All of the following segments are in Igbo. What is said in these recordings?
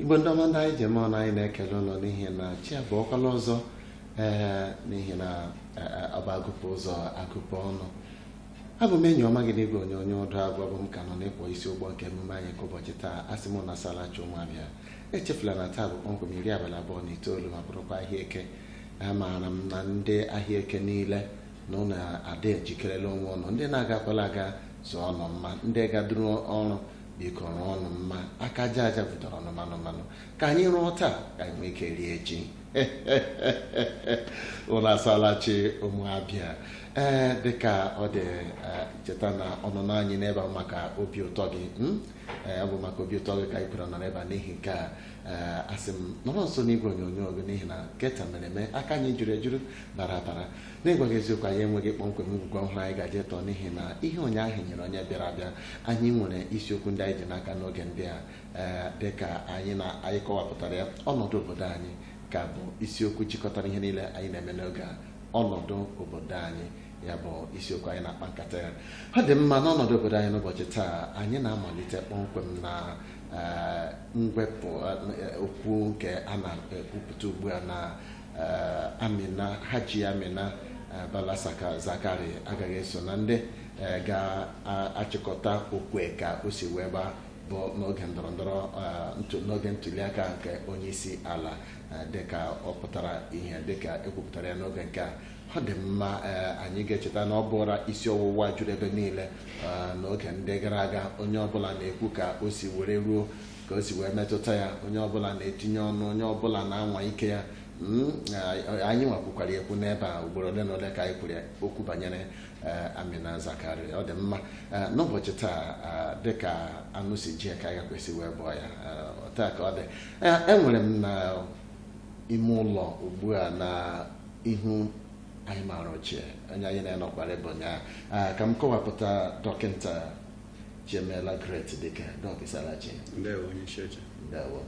igbo ndị ọma ndị anyị ji eme ọnụ anyị na-ekele ụnụ n'ihi na chi abọọkwala ọzọ ee n'ihi na ọ bụ a gụpụ ụzọ a gụpụ ọnụ abụ m enyi ọma gị n'igwe onyonyo ọdụ agụ abụ m ka nọ n'ịkpọ isi ụgbọ nke emume anyị nke ụbọchị taa asị m ụnụ asaala chi ụmụ abịa echefula na taa bụ kpọmkwem iri abalị abụọ na itoolu ma bụrụkwa ahịa eke amaara m na ndị ahịa eke niile na ụnụ ada ejikerela onwe ụnụ ndị na-agakwala aga zụọnụ mma ndị gaduru ọrụ biko rụọnụ mma aka aja aja butere ọnụ manụ manụ ka anyị rụọ taa ka anyị nwee ike rie echi ụnụ asaala chi ụmụ abịa ee dịka ọ dị eh, cheta na ọnụnọ anyị n'ebe a maka obi ụtọ gị mm? Eh, ọ bụ maka obi ụtọ gị ka anyị kwere nọ n'ebe a n'ihi nke a ee asị m nọrọ nso n'igwe onyonyo gị n'ihi na nke taa mere eme aka anyị juru ejuru bara abara n'ịgwa gị eziokwu anyị enweghị kpọmkwem ngwugwu ọhụrụ anyị ga-eje tọọ n'ihi na ihe ụnyaahụ nyere onye bịara abịa anyị nwere isiokwu ndị anyị ji n'aka n'oge ndị a ee dị ka anyị na anyị kọwapụtara ya ọnọdụ obodo anyị ka bụ isiokwu jikọtara ihe niile anyị na-eme n'oge a ọnọdụ obodo anyị ya bụ isiokwu anyị na-akpa nkata ya ọ dị mma n'ọnọdụ obodo anyị n'ụbọchị taa anyị na-amalite kpọmkwem na mwepụ okwu nke a na-ekwupụta ugbu a na Amina Hajia Amina Bala Zakari agaghị eso na ndị ga-achịkọta okwe ka o si wee gbaa bụ n'oge ndọrọ ndọrọ n'oge ntuliaka nke onye isi ala dịka ọ pụtara ihe dịka ekwupụtara ya n'oge nke a ọ dị mma eh, anyị ga-echeta na ọ bụra isi ọwụwa juru ebe niile eh, n'oge ndị gara aga onye ọbụla na-ekwu ka o si were ruo ka o si wee metụta ya onye ọbụla na-etinye ọnụ onye ọbụla na-anwa ike ya Mm, eh, anyị nwa kwukwara ekwu n'ebe a ugboro ole na ole ka anyị kwuru okwu banyere eh, Amina Zakari ọ dị mma Eh, n'ụbọchị taa eh, dịka anụ si ji ya ka anyị gakwa esi wee bọọ ya Eh, taa ka ọ dị Eh, enwere m na ime ụlọ ugbu a na ihu anyị maara ochie onye anyị na ya nọkwara ebe a ụnyaahụ Ah, ka m kọwapụta dọkịta chiemela great dike dọk ị saala chi ndewo onye isi oche ndewo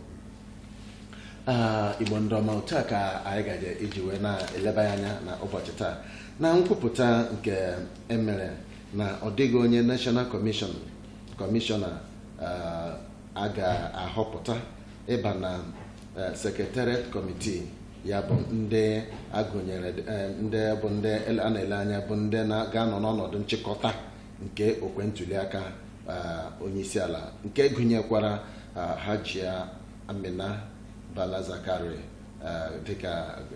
Ah, igbo ndị ọma otu a ka anyị gaje iji wee na-eleba ya anya na ụbọchị taa na nkwupụta nke emere na ọ dịghị onye national commissioner ah, a ga-ahọpụta ịba na eh, secretariat committee ya bụ ndị agụnyere eh, ndị bụ ndị a na-ele anya bụ ndị ga-anọ n'ọnọdụ nchịkọta nke okwe ntuliaka eh, onyeisiala nke gụnyekwara Hajia Amina Bala Zakari dịka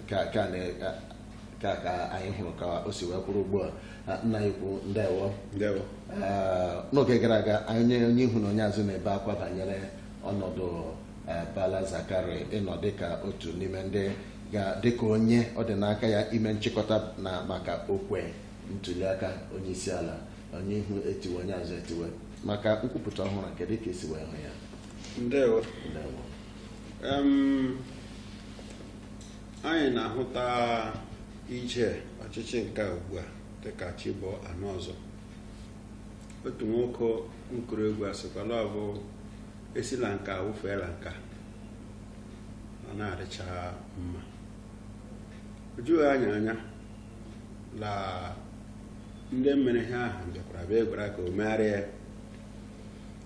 ka ka anyị hụrụ ka o si wee kwụrụ ugbu a nna anyị ukwu ndewo n'oge gara aga onye ihu na onye azụ na-ebe akwa banyere ọnọdụ Eh, Bala Zakari ịnọ dịka otu n'ime ndị ga dịka onye ọ dị n'aka ya ime nchịkọta na maka okwe ntuliaka onye isi ala onye ihu etiwe onye azụ etiwe maka nkwupụta ọhụrụ kedu ka esi wee hụ ya ndewo Ndewo. Em, anyị na-ahụta ije ọchịchị nke a ugbu a dịka chi bọọ anụ ọzọ otu nwoke nkụrụ egwu sịkwa la ọ bụ esi la nka wụfee la nka ọ na-adịcha mma o jughị anyị anya la ndị mere ihe ahụ bịakwara bịa gwara ka o megharịa ya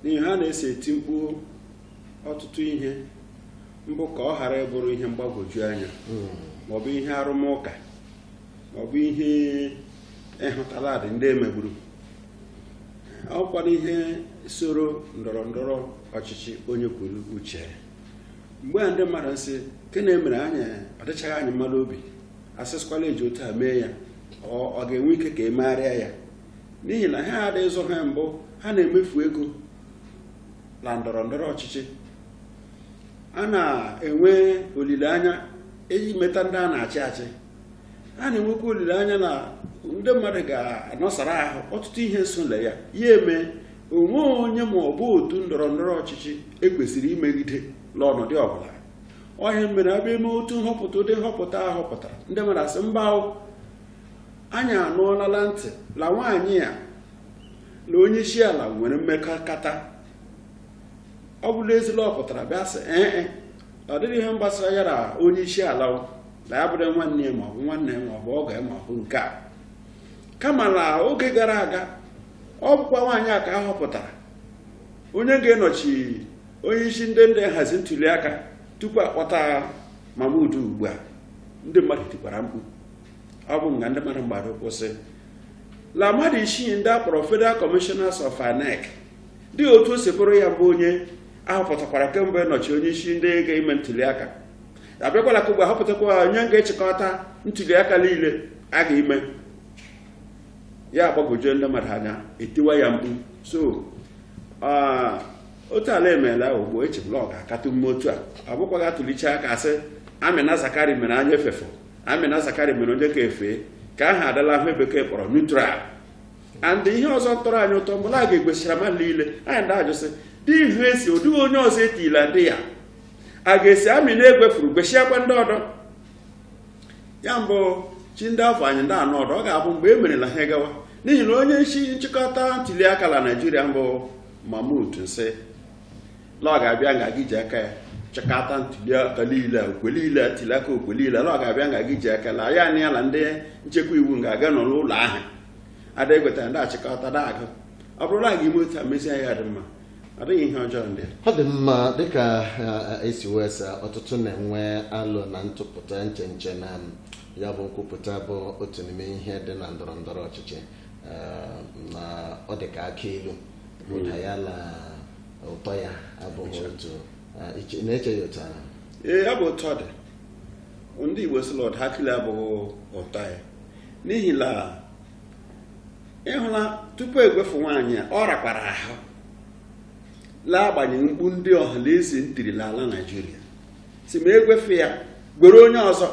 n'ihi ha na-esi eti mkpu ọtụtụ ihe mbụ ka ọ ghara ịbụrụ ihe mgbagwoju anya maọbụ ihe arụmụka maọbụ ihe ịhụta la ọ dị ndị emegburu ọkwa n'ihe soro ndọrọ ndọrọ ọchịchị onye kwuru uche mgbe a ndị mmadụ nsị nke na-emere anyị ọdịchaghị anyị mma la obi asịsịkwa la eji otu a mee ya ọ ga-enwe ike ka emegharịa ya n'ihi na ha adịghị zụ ha mbụ ha na-emefu ego la ndọrọ ndọrọ ọchịchị a na-enwe olileanya iji meta ndị a na-achị achị a na-enwekwa olileanya na ndị mmadụ ga-anọsara ahụ ọtụtụ ihe so la ya ya mee o nwee onye ma ọ bụ otu ndọrọ ndọrọ ọchịchị ekwesịrị imegide la ọnọdụ ọbụla ọ ihe mere abịa eme otu nhọpụta ụdị nhọpụta a họpụtara ndị mmadụ asị mba anyị anụọla la ntị la nwaanyị a na onye isi ala nwere mmekọrịta ọ bụrụ ezi la ọ pụtara bịa sị ee e, ọ dịghị ihe gbasara ya na onye isi ala na ya bụrụ nwanne ya maọbụ nwanne ya maọbụ ọgọ ya maọbụ nke a kama la oge gara aga ọ bụkwa nwaanyị a ka a họpụtara onye ga-enọchi onye isi ndị ndị nhazi ntuli aka tupu akpọta Mahmood ugbu a ndị mmadụ tikwara mkpu ọ bụ nga ndị mmadụ mgbado ụkwụ sị la mmadụ isii ndị akpọrọ Federal Commissioners of INEC dị otu o si bụrụ ya bụ onye a họpụtakwara kemgbe nọchi onye isi ndị ga-eme ntuliaka abịakwala ka ugbu ahọpụtakwa onye ga-achịkọta ntuliaka niile a ga-eme ya agbagwojuo ndị mmadụ anya etiwa ya mkpu so otu ala e meela ugbu echebula ọ ga-akatụ mme otu a ọ bụkwaghị atụlicha aka a sị amina zakari mere anya efefo amina zakari mere onye ka efe ka aha adala ihe bekee kpọrọ neutral and ihe ọzọ tọrọ anyị ụtọ mgbe a ga-egwesịra mmadụ niile anyị ndị ajụsị dị ihe e si ọ dịghị onye ọzọ etila dị ya a ga-esi amina egwefuru gwesịakwa ndị ọdọ ya mbụ chi ndị afọ anyị ndị anọ ọdọ ọ ga-abụ mgbe e merela ha gawa n'ihi na onye isi nchịkọta ntuli aka na naijiria mbụ mahmood nsị na ọ ga-abịa nga ga-eji aka ya chịkọta ntuli aka niile okwe niile ntuli aka okwe niile na ọ ga-abịa nga ga-eji aka na ya na ya na ndị nchekwa iwu ga-aga nọ n'ụlọ ahụ a da-egweta da-achịkọta da-agụ ọ bụrụ na a ga-eme otu a mezie ya dị mma ọ dịghị ihe ọjọọ ndị ọ dị mma dịka i si wee sa ọtụtụ na-enwe alo na ntụpụta echiche na ya bụ nkwupụta bụ otu n'ime ihe dị na ndọrọ ndọrọ ọchịchị na ọ dị ka akụ ilu ụda ya na ụtọ ya abụghị otu na-eche ya otu ahụ ee ọ bụ otu ọ dị ndị Igbo sị la ụda akịlu abụghị ụtọ ya n'ihi na ị hụla tupu egwefu nwaanyị a ọ rakwara ahụ la agbanyeghị mkpu ndị ọha na eze ntiri n'ala naijiria sị ma e gwefu ya gwere onye ọzọ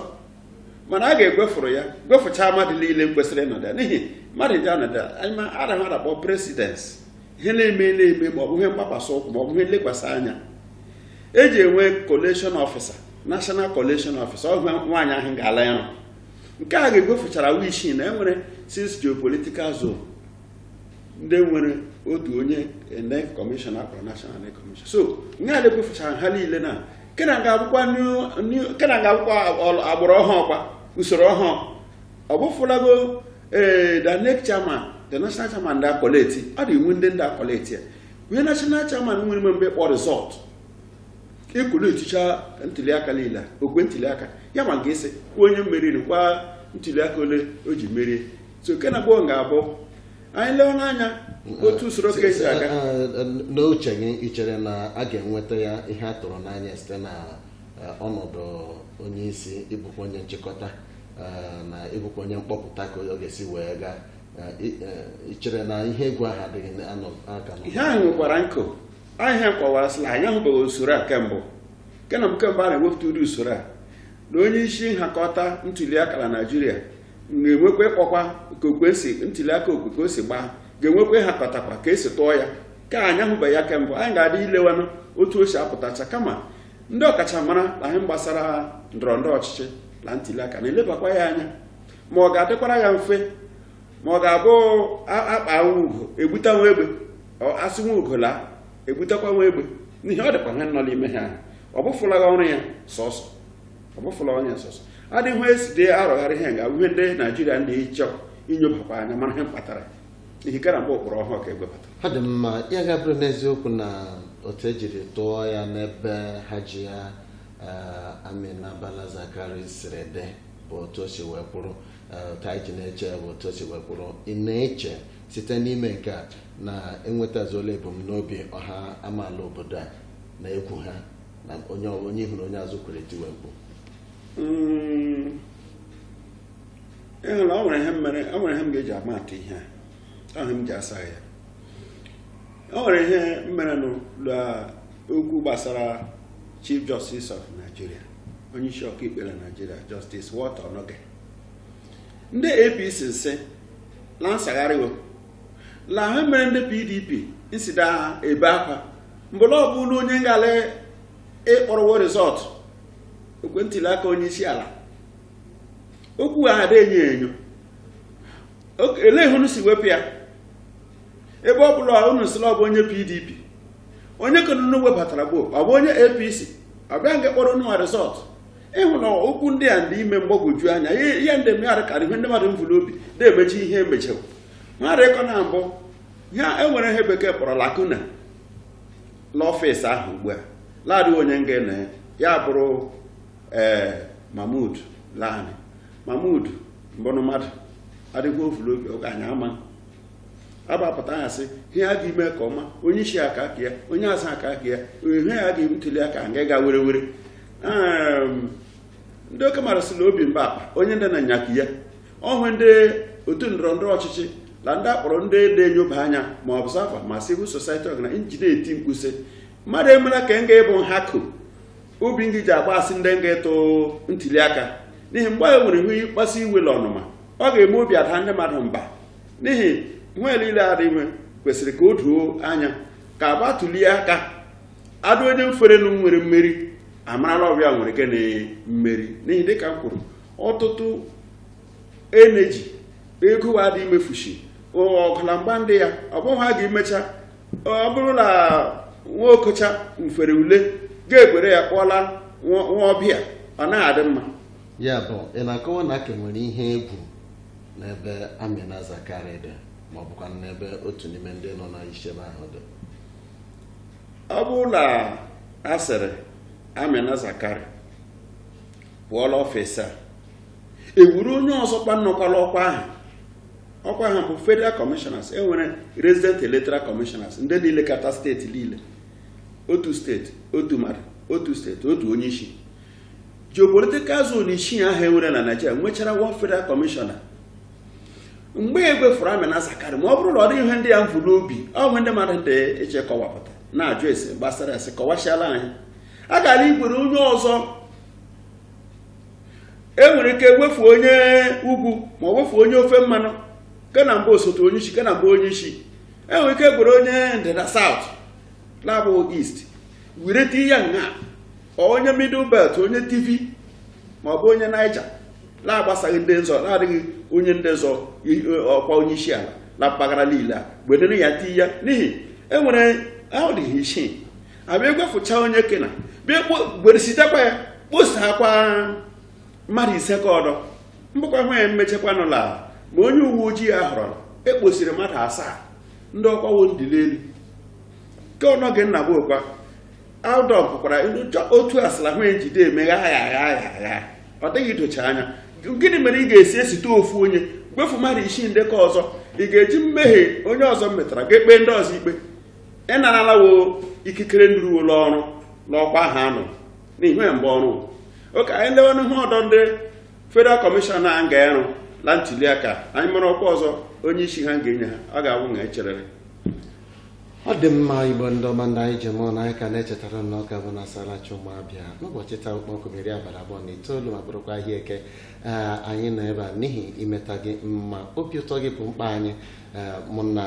mana a ga-egwefuru ya gwefuchaa mmadụ niile kwesịrị ịnọdụ ya n'ihi mmadụ ji anọdụ anyị anaghị adakpọ presidency ihe na-eme na-eme ma ọ bụ ihe mgbakwasị ụkwụ ma ọ bụ ihe nlekwasị anya eji enwe collation officer national collation officer ọ nwaanyị ahụ ga-ala arụ nke a ga-egwefuchara ha isii na e nwere six geopolitical zone ndị nwere otu onye INEC commission a kpọrọ national INEC commission so nke a na-egwefuchara ha niile na kena ga-abụkwa new- new- kena ga-abụkwa ọl- agbụrụ ọhụụ kwa usoro ọhụụ ọ bụfụlago ee the INEC chairman the national chairman ndị a-collate ọ dị iwu ndị ndị a-collate ya onye national chairman nwere ime mgbe kpọ result ị collatechaa ntụliaka niile okwe ntụliaka ya ma ga-esi kwuo onye meriri kwa ntụliaka ole o ji merie so kena ugbu a ga-abụ anyị lewe n'anya otu usoro ka esi aga n'uche gị ị chere na a ga-enweta ya ihe a tụrụ n'anya site na eh, ọnọdụ onye isi ịbụkwa onye nchịkọta eh, na ịbụkwa onye mkpọpụta ka ọ ga-esi wee gaa Eh, ị- eh, ị chere na ihe egwu ahụ adịghị na- anọ- aka nọ? ihe ahụ nwekwara nkụ ahịa kọwara sị na anyị ahụbeghị usoro a kemgbe nke na kemgbe a na-ewepụta ụdị usoro a na onye isi nhakọta ntuliaka na naijiria ga-enwekwa ịkpọkwa ka okwesi ntuliaka okwe ka o si gbaa ga-enwekwa ịhakọtakwa ka esi tụọ ya ka anyị ahụbeghị ya kemgbe anyị ga-adị ilewanụ otu o si apụtacha kama ndị ọkachamara na ihe gbasara ndọrọ ndọrọ ọchịchị na ntuliaka na-elebakwa ya anya ma ọ ga-adịkwara ya mfe ma ọ ga-abụ akpa ugo egbuta nwa egbe asị nwa ugo laa egbutekwa nwa egbe n'ihi ọ dịkwa ha nọ n'ime ha ọ bụfụlaghị ọrụ ya sọsọ ọ bụfụla ọrụ ya sọsọ adịghị esi dị arọgharị ha ga ihe ndị naijiria ndị ịchọ inyobakwa anya mara ihe mkpatara ihe gara mgbe ụkpụrụ ọhụụ ka egwepụtara ọ dị mma ya ga-abụrụ n'eziokwu na otu ejiri tụọ ya n'ebe Hajiya eh, Amina Bala Zakari siri dị bụ otu o si wee kwụrụ otu anyị ji na-eche bụ otu o si wee kwụrụ ị na-eche site n'ime nke a na enwetazuola ebumnobi ọha amaala obodo a na egwu ha na onye ọ- onye ihu na onye azụ kwere tiwe mkpu Mm, ị hụrụ o nwere ihe m mere o nwere ihe m ga-eji ama atụ ihe a ọ ihe m ji asa ya o nwere ihe mere nụ na okwu gbasara chief justice of nigeria onye isi ọkaikpe na nigeria justice walter onnoghen ndị apc sị la nsagharịwo la ha mere ndị pdp nsida ha ebe akwa mgbe ọ bụrụ onye ngala ịkpọrọ wo result okwe ntuli aka onye isi ala okwu ha adị enyo enyo ele ihe unu si wepụ ya ebe ọ bụla unu sị la ọ bụ onye pdp onye ka unu webatara bụ ọ bụ onye apc ọ bụ ya nga akpọrọ unu result ị hụ na okwu ndị a ndị ime mgbagwoju anya ihe ndị mmadụ karị ihe ndị mmadụ mvu n'obi na-emechi ihe emechara mmadụ ịkọ na mbụ ya enwere ihe bekee kpọrọ lacuna n'ọfịs ahụ ugbu a laadị onye nga na ya bụrụ ee eh, mahmood laanị mahmood mbụrụ mmadụ adịghị evu n'obi oge anyị ama agbapụta ya sị ihe a ga-eme ka ọma onye isi aka aka ya onye asa aka aka ya ihe ya ga-eme ntuli aka nga ga were were ndị oke mmadụ sị na obi mba akpa onye ndị na-anyakụ ya ọhụụ ndị otu ndọrọ ndọrọ ọchịchị na ndị akpọrọ ndị na-enyoba anya ma observer ma civil society ọgana njide eti mkpu sị mmadụ emela ka nga ịbụ nhakụ obi ngị ji agba asị ndị nga ịtụ ntuli aka n'ihi mgbe anyị nwere ihe ịkpasu iwe na ọnụma ọ ga-eme obi adaa ndị mmadụ mba n'ihi ihe niile adị nwe kwesịrị ka o doo anya ka agba ntuli aka adụ onye mferenu nwere mmeri a mara la ọ bụ ya nwere ike na mmeri n'ihi dịka m kwuru ọtụtụ eneji ego wa dị imefushi ọgụ la mgba ndị ya ọ bụghị ha ga-emecha ọ bụrụ na nwa okocha mfere ule ga-egwere ya kpọla nwa ọbịa ọ naghị adị mma ya bụ ị na-akọwa na a ka nwere ihe egwu n'ebe Amina Zakari dị ma ọ bụkwa n'ebe otu n'ime ndị nọ n'isi ebe ahụ dị ọ bụrụ na a sịrị Amina Zakari pụọ la ọfịs a e wuru onye ọzọ kwa nọkwa la ọkwa ahụ ọkwa ahụ bụ federal commissioners e nwere resident electoral commissioners ndị na-elekọta steeti niile otu steeti otu mmadụ otu steeti otu onye isi geopolitical zone isii ahụ e nwere na Naịjirịa nwechara one federal commissioner mgbe e gwefuru Amina Zakari ma ọ bụrụ na ọ dịghị ihe ndị ya mvu n'obi ọ bụ ndị mmadụ dị iche kọwapụta na-ajụ ese gbasara ese kọwasịala anyị a gara igwere onye ọzọ e nwere ike gwefu onye ugwu ma ọ gwefu onye ofe mmanụ kena mba osote onye isi kena mba onye isi e nwere ike gwere onye ndịda south na-abụghị east wereta ya nga onye middle belt onye Tiv ma ọ bụ onye Niger na-agbasaghị ndị nzọ na-adịghị onye ndị nzọ ọkwa onye isi ala na mpaghara niile a wedere ya ti ya n'ihi e nwere ahụ dịghị isii a bịa gwefucha onye kena bịa gweresitekwa ya kposakwa mmadụ ise ke ọdọ mbụkwa hụ ya mmechekwanụ la ma onye uwe ojii a họrọ la e kposiri mmadụ asaa ndị ọkwa wo ndị l'elu ke ọnọgị nna bụ okwa Aldon pụkwara otu asịla hụ ejide emeghe agha ọ dịghị idocha anya gịnị mere ị ga-esi esite ofu onye gwefu mmadụ isii ndị ke ọzọ ị ga-eji mmehie onye ọzọ metara ga-ekpe ndị ọzọ ikpe ị narala wo ikikere nduru ụlọ ọrụ n'ọkwa ahụ a nọ n'ihi ya mgbe o ruo ka anyị lewenụ ihe ọdọ ndị federal commissioner nga ịrụ na ntuli aka anyị mara ọkwa ọzọ onye isi ha ga-enye ha ọ ga-awụ na e cherere ọ dị mma Igbo ndị ọma ndị anyị ji eme ọnụ anyị ka na-echetara ụnụ na ọ ka bụ na asala chi ụmụ Abịa n'ụbọchị taa ụkpọkụ mere abalị iri abụọ na itoolu ma bụrụkwa ahịa eke ee anyị nọ ebe a n'ihi imeta gị mma obi ụtọ gị bụ mkpa anyị ee mụ na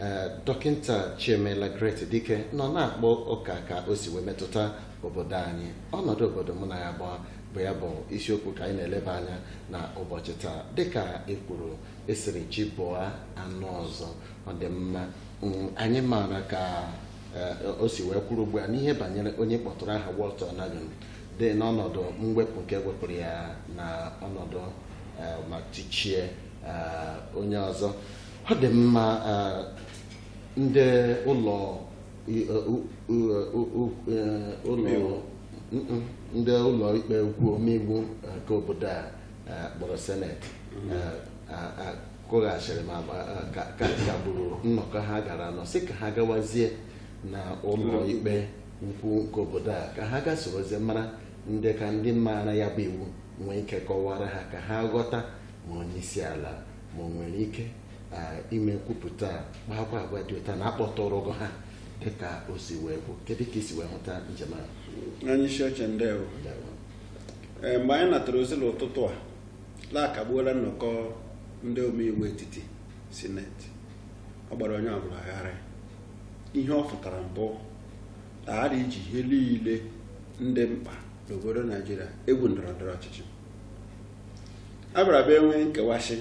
ee dọkịta Chiemela Great Dike nọ na-akpa ụka ka o si wee metụta obodo anyị ọnọdụ obodo mụ na ya bụ bụ ya bụ isiokwu ka anyị na-eleba anya na ụbọchị taa dịka e kwuru a sịrị chi bọọ a nụ ọzọ ọ dị mma Mm, anyị maara ka eh, o si wee kwuru ugbu a n'ihe banyere onye kpọtụrụ aha Walter Onnoghen dị n'ọnọdụ mwepụ nke e wepụrụ ya na ọnọdụ eh, ma tichie eh, onye ọzọ ọ dị mma eh, ndị ụlọ i- eh, u- u- u- u- eh, ụlọ Mm-mm. ndị ụlọ ikpe ukwu omeiwu eh, nke obodo a eh, kpọrọ seneti eh, a- a- kụghachiri ma ma, eh, ka ka kagburu nnọkọ ha gaara anọ sị ka ha gawazie na ụlọ ikpe ukwu nke obodo a ka ha ga sorozie mara ndị ka ndị maara ya bụ iwu nwee ike kọwara ha ka ha ghọta ma onye isi ala ma o nwere ike ah, ime nkwupụta a, kpaakwa agwa dị otu a na akpọtụrụghị ha dịka o si wee bụ kedu ka i si wee hụta njem ahụ onye isi oche ndewo Ndewo. Ee, mgbe anyị natara ozi n'ụtụtụ a la a kagbuola nnọkọ ndị omeiwu etiti sineti ọ gbara onye ọbụla gharị ihe ọ fụtara mbụ aghara iji ihe niile ndị mkpa n'obodo naijiria egwu ndọrọ ndọrọ ọchịchị a bịara bịa enwe nkewasị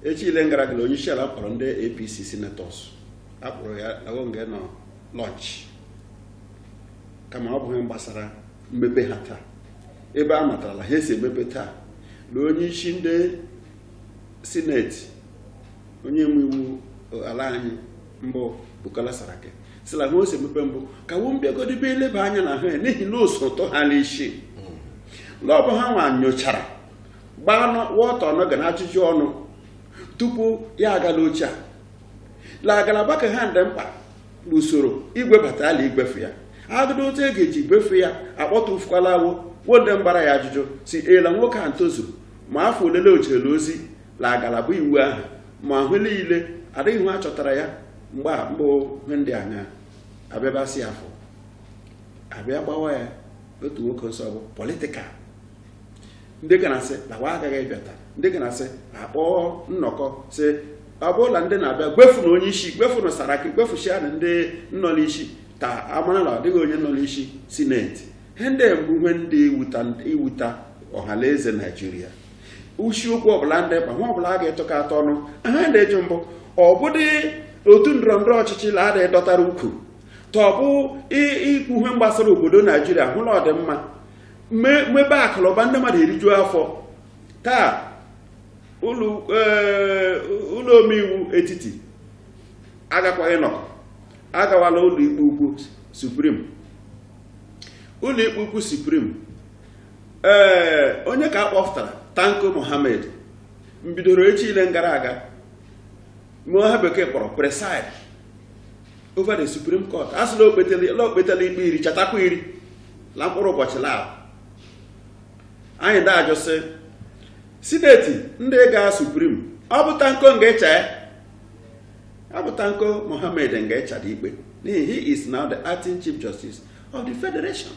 echi ile gara aga onye isi ala kpọrọ ndị APC senators a kpọrọ ya la wo nge nọ lunch kama ọ bụghị gbasara mmepe ha taa ebe a matara la ha esi emepe taa na onye isi ndị sineti onye omeiwu ala anyị mbụ Bukola Saraki sị la ha o si emepe mbụ ka wo mbịagodibe eleba anya na ha n'ihi na oso tọ ha n'isi la ọ bụ ha nwa nyochara gbaa Walter Onnoghen ajụjụ ọnụ tupu ya agala oche a la ngalaba ka ha ndị mkpa usoro igwebata a la igwefu ya agụdụ otu e ga-eji gwefu ya akpọtụfukwala awụ wo ndị mgbara ya ajụjụ sị ee la nwoke a ntozuru ma afọ olele o jerela ozi la ngalaba iwu ahụ ma ahụ niile adịghị hụ a chọtara ya mgbe a mbụ ihe ndị anya abịabasị afọ a bịa gbawa ya otu nwoke nsị ọ bụ political ndị ga na-asị la wa agaghị ịbịa taa ndị ga na-asị a kpọọ nnọkọ sị ọ bụla ndị na-abịa gwefu na onye isi gwefu na saraki gwefushia na ndị nọ n'isi ka a mara na ọ dịghị onye nọ n'isi sineti ihe ndị mbụ ihe ndị iwuta ọha la eze naijiria ishi okwu ọbụla ndị mkpa nwa ọbụla a ga-etọka atọ ọnụ aha ndị eji mbụ ọ bụdị otu ndọrọ ndọrọ ọchịchị la adịghị dọtara ukwu tọbụ ikwu ihe gbasara obodo naijiria hụ la ọdịmma mmebe akụlụba ndị mmadụ eriju afọ taa ụlọ eh, omeiwu etiti agakwaghị nọ agawala ụlọ ikpe ukwu supreme ụlọ ikpe ukwu supreme ee eh, onye ka a kpọpụtara tanko mohammed mbidoro echi ile gara aga mewe ihe bekee kpọrọ preside over the supreme court a sị la o kpetela ikpe iri chatakwa iri la mkpụrụ ụbọchị la anyị da-ajụ sị sineti ndị ga supreme ọ bụ tanko nga-echa ya ọ bụ tanko mohammed nga-echa dị ikpe n'ihi he is now the acting chief justice of the federation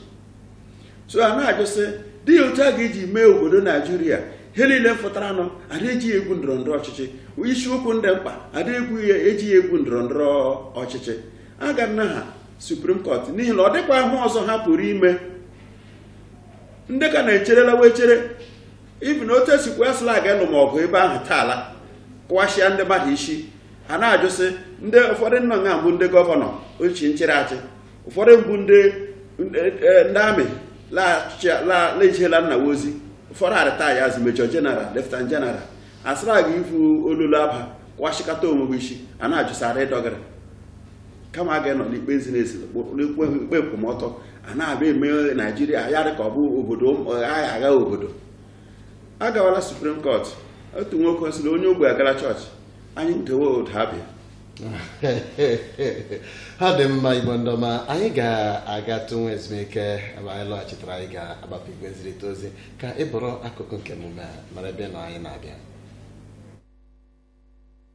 so a na-ajụ sị dị ya otu a ga-eji mee obodo naijiria ihe niile fụtara nụ a da-eji ha egwu ndọrọ ndọrọ ọchịchị isiokwu ndị mkpa a da-egwu ya eji ha egwu ndọrọ ndọrọ ọchịchị aga na ha Supreme Court n'ihi na ọ dịkwa ihe ọzọ ha pụrụ ime ndị ka na-echerela wee chere even otu esi kwuo sị la aga ịlụ ma ọgụ ebe ahụ taa la kụwasịa ndị mmadụ isi a na-ajụsị ndị ụfọdụ nọ nga mbụ ndị gọvanọ ochie nchịrị achị ụfọdụ mbụ ndị ndị amị la-ejere ala nna wa ozi ụfọdụ a retire as major general lieutenant general asịra aga ivu olulu aba kụwasịkata onwe isi a na-ajụsara ịdọgara kama a ga-enọ n'ikpe ziri ezi n'ikpe ikpe nkwụmọtọ a na-abịa eme naijiria ya dị ka ọ bụ obodo agha obodo a gawala supreme court otu nwoke ọ sịrị onye ogbe agara chọọchị anyị ndewe ụda abịa ha dị mma igbo ndị ọma anyị ga-agatụ nwa ezumike mgbe anyị lọghachitara anyị ga-agbapụ igwe nzirịta ozi ka ị bụrụ akụkụ nke emume a mara ebe a nọ anyị na-abịa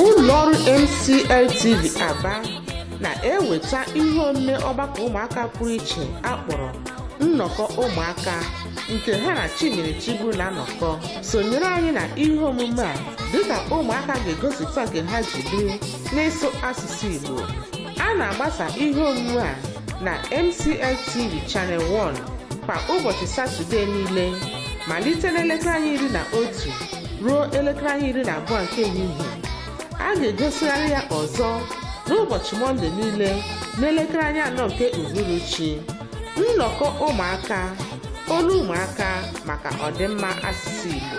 ụlọọrụ MCLTV Aba na-eweta ihe omume ọgbakọ ụmụaka pụrụ iche akpọrọ nnọkọ ụmụaka nke ha na Chimere Chigbu na-anọkọ sonyere anyị na ihe omume a dịka ụmụaka ga-egosipụta nke ha ji biri n'ịsụ asụsụ Igbo a na-agbasa ihe omume a na MCLTV Channel 1 kwa ụbọchị Satọde niile malite n'elekere anya iri na otu ruo elekere anya iri na abụọ nke ehihie a ga-egosịgharị ya ọzọ n'ụbọchị mọnde niile n'elekere anya anọ nke uhuruchi nnọkọ ụmụaka olu ụmụaka maka ọdịmma asụsụ igbo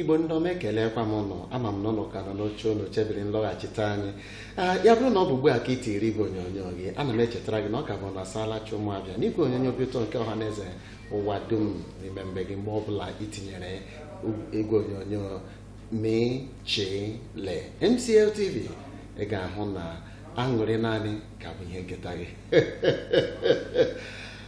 igbo ndị ọma ekelekwa m ụnụ ama m na ụnụ ka nọ n'oche ụnụ chebiri nlọghachite anyị Ee, ya bụrụ na ọ bụ ugbu a ka ị tiiri igwe onyonyo gị ana m echetara gị na ọ ka bụ na saala chi ụmụabịa n'igwe onyonyo obi ụtọ nke ọha na eze ụwa dum n'ime be gị mgbe ọbụla ị tinyere igwe onyonyo mechile mcl tv ị ga-ahụ na aṅụrị naanị ka bụ ihe nketa gị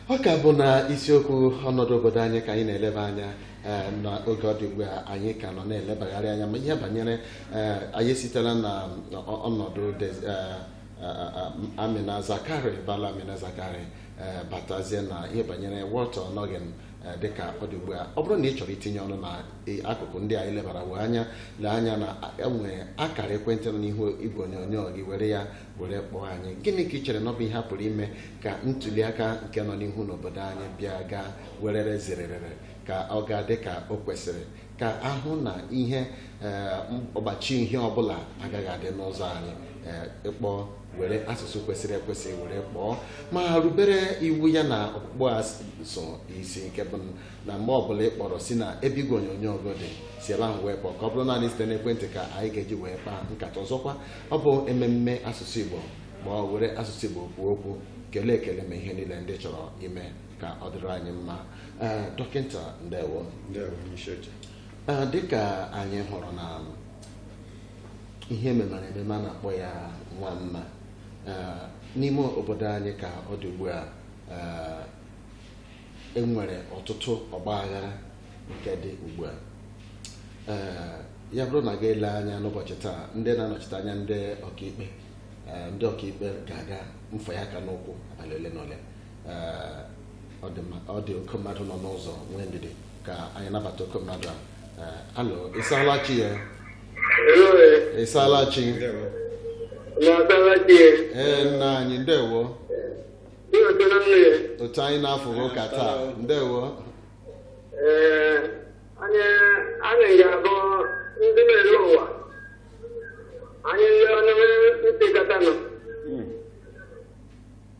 ọ ka bụ na isiokwu ọnọdụ obodo anyị ka anyị na-eleba anya eh, n'oge ọ dị ugbu a anyị ka nọ na-elebagharị anya ma ihe banyere eh, anyị sitela na ọ- ọnọdụ Des- eh, eh, eh, Amina Zakari Bala Amina Zakari eh, batazie na ihe banyere Walter Onnoghen Eh, dị ka ọ dị ugbu a ọ bụrụ na ị chọrọ itinye ọnụ na eh, akụkụ ndị anyị lebara wee anya lee anya na enwere akara ekwentị nọ n'ihu igwe onyonyo gị were ya were kpọọ anyị gịnị ka ị chere na ọ bụ ihe a pụrụ ime ka ntuli aka nke nọ n'ihu n'obodo anyị bịa gaa werere zererere ka ọ gaa dị ka o kwesịrị ka a hụ na ihe eh, ọgbachi ihe ọbụla agaghị adị n'ụzọ anyị eh, ị kpọọ were asụsụ kwesịrị ekwesị were kpọọ ma rubere iwu ya na ọkpụkpọ a so isi nke bụ na mgbe ọbụla ị kpọrọ si na ebe igwe onyonyo gị dị si ebe ahụ wee kpọọ ka ọ bụrụ naanị site n'ekwentị ka anyị ga-eji wee kpaa nkata ọzọkwa ọ bụ ememme asụsụ Igbo kpọọ were asụsụ Igbo kwuo okwu kelee ekele mee ihe niile ndị ị chọrọ ime ka ọ dịrị anyị mma Ee, dọkịta ndewo ndewo onye isi oche Ee, dịka anyị hụrụ na ihe e memara emema a na-akpọ ya nwa mma Ee, n'ime obodo anyị ka ọ dị ugbu a ee, enwere ọtụtụ ọgba aghara nke dị ugbu a Ee, ya bụrụ na a ga-ele anya n'ụbọchị taa ndị na-anọchite anya ndị ọkaikpe ee, ndị ọkaikpe ga-aga mfie aka n'ụkwụ abalị ole na ole ọ dị oke mmadụ nọ n'ụzọ nwee ndidi ka anyị nabata oke mmadụ a hello ị saala chi ya ị saala chi ee nna anyị ndewo otu anyị na-afụ ụka taa ndewo anyị ga-abụ ndị na-ele ụwa anyị ndị ọnụ ntị katanụ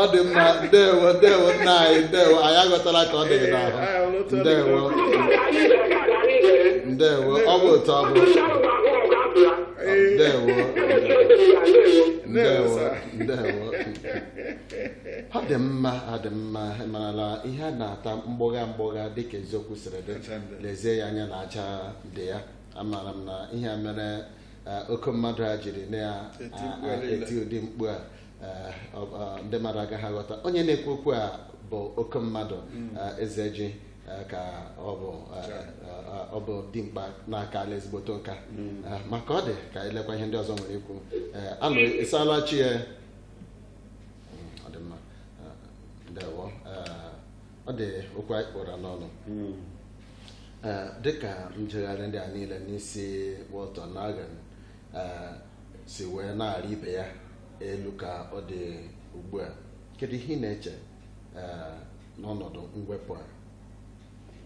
ọ dị mma ndewo ndewo nna anyị ndewo anyị aghọtala ka ọ dị gị n'ahụ ndewo ndewo ọ bụ otu ọ bụ ndewo ndewo ndewo ọ dị mma ọ dị mma ị marala ihe a na-ata mgbọgha mgbọgha dịka eziokwu siri dị lezie ya anya na aja dị ya amaara m na ihe mere eh, oke mmadụ a jiri na-eti ụdị mkpu a Eh, ọ- ọ- ndị mmadụ agaghị aghọta onye na-ekwu okwu a bụ oke mmadụ eh, eze ji eh, ka ọ bụ eh, eh, ọ bụ dimkpa na akaala ezigboto nka Eh, maka ọ dị ka anyị lekwa ihe ndị ọzọ nwere ikwu Eh, alo ị saala chi ya Mm, ọ dị mma Eh, ndewo Eh, ọ dị okwu anyị kpụra n'ọnụ Ee, dịka njegharị ndị a niile n'isi Walter Onnoghen eh, si wee na-arị ibe ya elu ka ọ dị ugbu a kedu ihe ị na-eche eh, n'ọnọdụ mwepụ a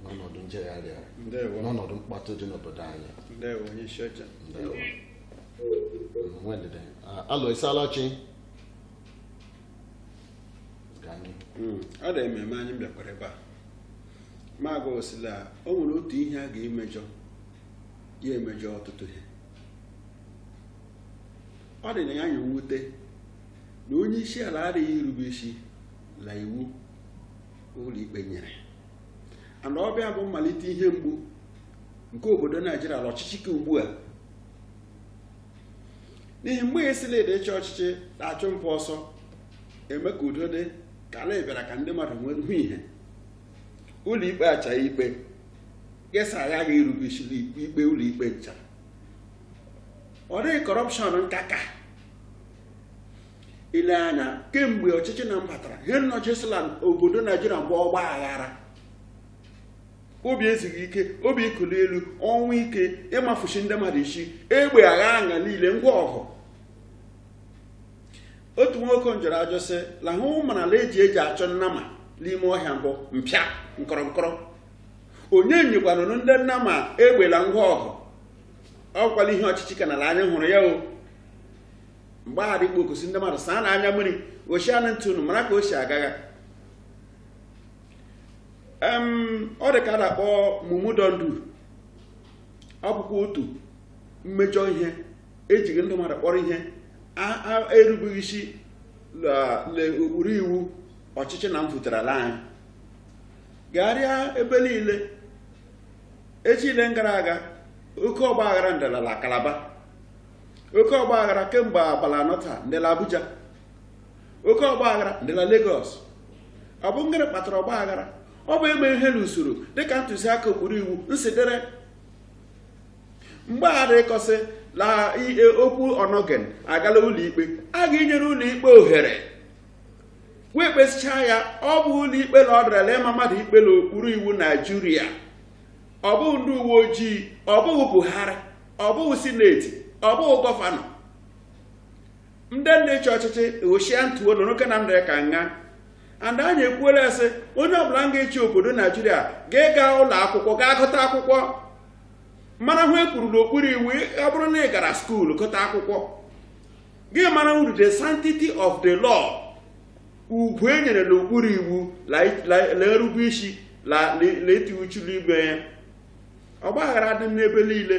n'ọnọdụ njegharị a ndewo n'ọnọdụ mkpọtụ dị n'obodo anyị ndewo onye isi oche Ndewo. Mm, nwee ndidi. Ah, alo ị saala chi Gaa n'ihu. Mm, ọ dị ememe anyị bịakwara ebe a ma gosi la o nwere otu ihe a ga-emejọ ya emejọ ọtụtụ ihe ọ dị na ya ya mwute na onye isi ala adịghị irube isi la iwu ụlọikpe nyere and ọ bịa bụ mmalite ihe mgbu nke obodo naijiria la ọchịchị ke ugbu a n'ihi mgbe ya sị la a dị ịchị ọchịchị na-achụ mpụ ọsọ eme ka udo dị ka ala bịara ka ndị mmadụ nwere hụ ihe ụlọikpe achaa ikpe ya sị agaghị irube isi n'ikpe ikpe ụlọikpe ncha ọ dịghị corruption nka ka i le anya kemgbe ọchịchị na mbatara ihe nnọchisi la obodo naijiria bụ ọgba aghara obi ezughị ike obi ikuli elu ọnwụ ike ịmafusi ndị mmadụ isi egbe agha anya niile ngwa ọgụ otu nwoke njụrụ ajụjụ sị la ha mara la ihe eji achọ nnama n'ime ọhịa mbụ mpịa nkọrọ nkọrọ onye nyekwanụrụ ndị nnama egbe la ngwa ọgụ ọ kwa la ihe ọchịchị ka na-ele anya hụrụ ya o mgbe a dị ịkpakọsị ndị mmadụ saa n'anya mmiri gochi anụ ntụ unu mara ka o si agagha em ọ dị ka a na-akpọ mumu don do ọ bụkwa otu mmejọ ihe ejighị ndị mmadụ kpọrọ ihe a- a- erubeghị isi la- le ụkpụrụ iwu ọchịchị na mpụtara ala anyị gagharịa ebe niile echi le gara aga oke ọgba aghara ndị la Calabar oke ọgba aghara kemgbe abalị anọ taa ndị la Abuja oke ọgba aghara ndị la Lagos ọ bụ ngịrị kpatara ọgba aghara ọ bụ emeghị ihe n'usoro dịka ntụziaka ụkpụrụ iwu nsi dere mgbe a dị ịkọsị la e, okwu Onnoghen agaala ụlọikpe a ga-enyere ụlọikpe ohere wee kpesịchaa ya ọ bụ ụlọ ikpe na ọ dịrala ịma mmadụ ikpe n'okpuru iwu naijiria ọ bụghị ndị uwe ojii ọ bụghị buhari ọ bụghị sineti ọ bụghị gọvanọ ndị na-achị ọchịchị ghochia ntuo nọ n'oke na ndịrị ka nha and anyị ekwuola sị onye ọbụla ga-achị obodo naijiria ga-ịga ụlọ akwụkwọ gaa gụta akwụkwọ mara ihe e kwuru n'okpuru iwu ọ bụrụ na ị gara skuulu gụta akwụkwọ gị mara uru the sanctity of the law ugwu e nyere n'okpuru iwu na-erube isi na iti uchu n'ime ya ọgbaghara dị n'ebe niile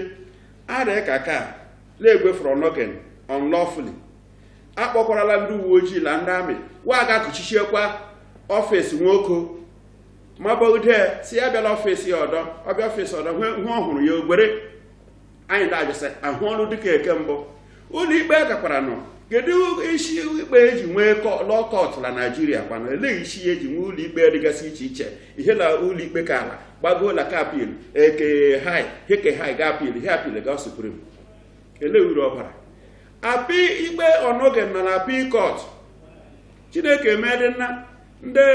arịa ka ka na-egwefere onnoghen unlawfully a kpọkwarala ndị uwe ojii na ndị amị wa ga kụchichiekwa ọfịs nwoke mabogide sị ya abịala ọfịs ya ọdọ ọ bịa ọfịs ọdọ ihe ọ hụrụ ya gwere anyị na-ajụ sị ahụ ọrụ dịka eke mbụ ụlọ ikpe gakwara nọ kedu isi ikpe eji nwee law court na naijiria kwana elee isi ya eji nwee ụlọ ikpe dịgasị iche iche ihe na ụlọ ikpe ka ala gbagoo na ke appeal ke high hi ke high gaa appeal hi appeal gaa supreme elee uru ọ bara appeal ikpe onnoghen na appeal court chineke meedị nna ndị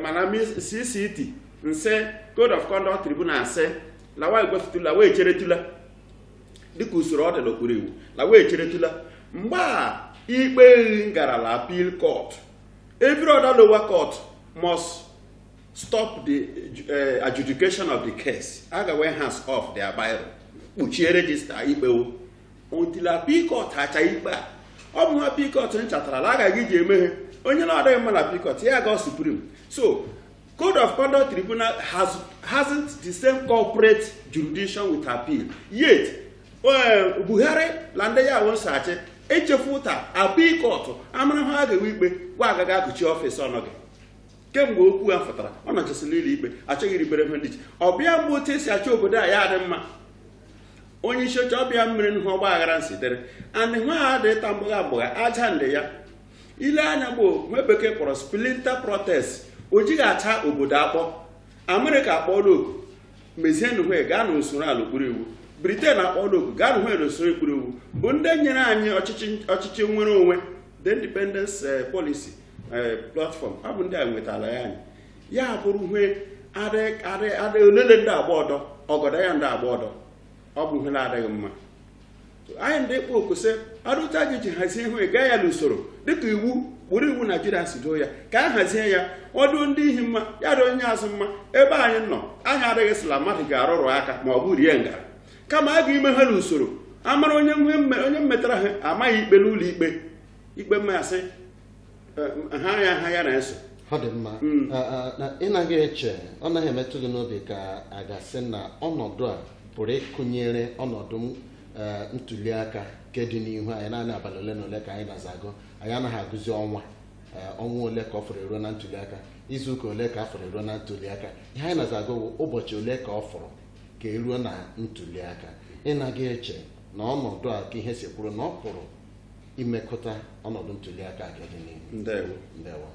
mana cct nse code of conduct tribunal nse la wa egwefutula wee cheretula dịka usoro ọ dị n'okpuru iwu la wa echeretula mgbe a ikpe ehi ngarala appeal court every other lower court must stop the eh, adjudication of the case a ga wee hands off their biro kpuchie regista ikpe wo until appeal court hacha ikpe a ọ bụ ihe appeal court nchatara la a ga-iji eme ihe onye na-adịghị mma na appeal court ya gaa supreme so Code of Conduct Tribunal has, hasn't the same corporate jurisdiction with appeal. Yet, uh, Buhari na ndị ya wonso achị echefu ụta appeal court amara ha ga-ewe ikpe gwa agaghị akụchi ọfịs onnoghen kemgbe okwu a fụtara ọ nọchasịla ụlọ ikpe achọghị iribere ihe ndị iche ọ bịa mgbe otu esi achọ obodo a ya adị mma onye isi oche ọbịa mmiri n'ihe ọgba aghara nsitere andị nwa ha dị ịta mgbụgha mgbụgha aja ndị ya ile anya bụ hwe bekee kpọrọ splinter protest o jighị acha obodo akpọ amerịka akpọọla oku mezienụ hwe gaa na usoro la okpuru iwu briten akpọọla oku gaanụ hwe na usoro okpuru iwu bụ ndị nyere anyị ọchịchị ọchịchị nwere onwe the independence eh, policy eh, platform ọ bụ ndị a nwetara ya anyị ya bụrụ hwe adị adị adị olele ndị agba ọdọ ọgọdọ ya ndị agba ọdọ ọ bụ hwe na-adịghị mma anyị ndị kpọ oku sị arụta gị ji hazie ihe gaa ya n'usoro dịka iwu kpụrụ iwu naijiria si doo ya ka a hazie ya ọ dị ndị ihi mma ya adị onye azụ mma ebe anyị nọ anyị adịghị sị la mmadụ ga-arụrụ aka ma ọ bụ rie ngarị kama a ga-ime ihe n'usoro a mara onye onye mmetara ha a maa ha ikpe n'ụlọ ikpe ikpe mmasị ha ya ha ya na-eso ọ dị mma mm. ị naghị eche ọ naghị emetụ gị n'obi ka a ga-asị na ọnọdụ a pụrụ ịkụnyere ọnọdụ ntuli aka nke dị n'ihu anyị naanị abalị ole na ole ka anyị na-aza agụ anyị anaghị agụzi ọnwa ọnwa ole ka ọ fọrọ e ruo na ntuli aka izu ụka ole ka ọ fọrọ e ruo na ntuli aka ihe anyị na-aza agụ bụ ụbọchị ole ka ọ fọrọ ka e ruo na ntuli aka ị naghị eche na ọnọdụ a ka ihe si kwụrụ na ọ pụrụ imekụta ọnọdụ ntuli aka nke dị n'ihu ndewo ndewo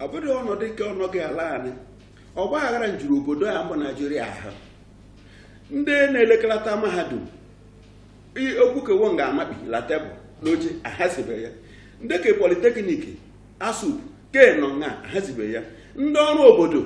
ọ bụrụ ọnọdụ nke ọnọdụ ala anyị ọgba aghara njuru obodo a bụ Naijiria ahụ ndị na-elekọta mahadum i- okwu ke wo nga amabi la tebụl n'oche ahazibe ya ndị ke politeknik ASUP ke nọ nga ahazibe ya ndị ọrụ obodo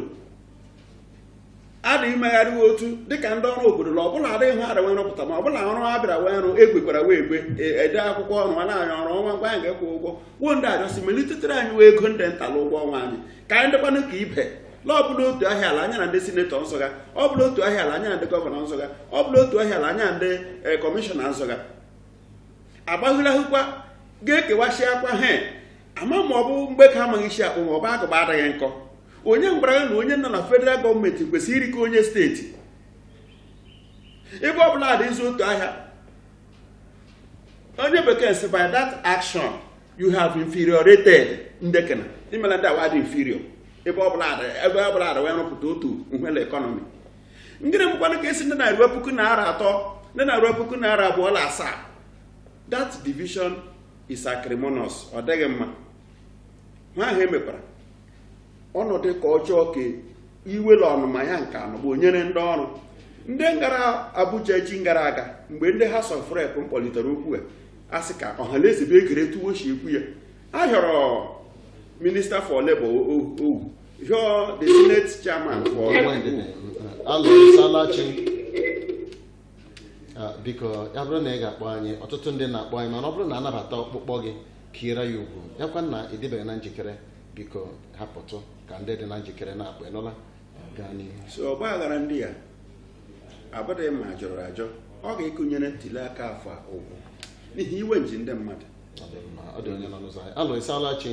a dị imegharị otu dịka ndị ọrụ obodo na ọ bụ la adịghị ha adịwe rụpụta ma ọ bụ la ọrụ ha bịara wee rụ egwekwara wee egwe e, ede akwụkwọ ọrụ a na-anya ọrụ ọnwa ngwa anyị ga-ekwu ụgwọ gwuo ndị ajọsi melitetere anyị wee ego ndị nta na ụgwọ ọnwa anyị ka anyị dịkwanụ ka ibe na ọ bụ la otu ahịa la anyị na ndị sinetọ nzụga ọ bụ la otu ahịa la anyị na ndị gọvanọ nzụga ọ bụ la otu ahịa la anyị na ndị e, kọmishọna nzụga agbaghịlahụkwa ga-ekewasị akwa he ama ma ọ bụ Mgbeke amaghị isi akpụ ma ọ bụ agụba adịghị nkọ onye gwara ya na onye nọ na federal gọọmenti kwesịrị iri ka onye steeti ebe ọ bụ la a dị ịzụ otu ahịa onye bekee sị by that action you have inferiorated ndekena i meela ndị awa dị inferior ebe ọ bụla ebe ọ bụla wee rụpụta otu nhwe la ekọnọmi ngịrị mekwanụ ka esi ndị na ruo puku naira atọ ndị na ruo puku naira abụọ na asaa that division is acrimonious ọ dịghị mma nwa ahụ emekwara ọnọdụ ka ọ jọọ ka iwe la ọnụma ya nke anọ bụ onyere ndị ọrụ ndị ngara Abuja echi gara aga mgbe ndị House of Rep kpọlitere okwu a asị ka ọhaneze bụ ekere otu wo si ekwu ya a hịọrọ minista for labour ọ wụ hịọ the senate chairman for Ah, biko ya bụrụ na ị ga-akpọ anyị ọtụtụ ndị na-akpọ anyị mana ọ bụrụ na a nabata ọkpụkpọ gị ka ire ya ugwu ya kwa na ị dịbeghị na njikere biko hapụtụ ka ndị dị na njikere na-akpọ ị nụla gaa n'ihu so ọgba aghara ndị a abụghị ma jọrọ ajọ ọ ga-ekụnyere ntuli aka afọ a ụgwọ n'ihi iwe nji ndị mmadụ Ọ dị mma, ọ dị onye nọ n'ụzọ anyị alo ị saala chi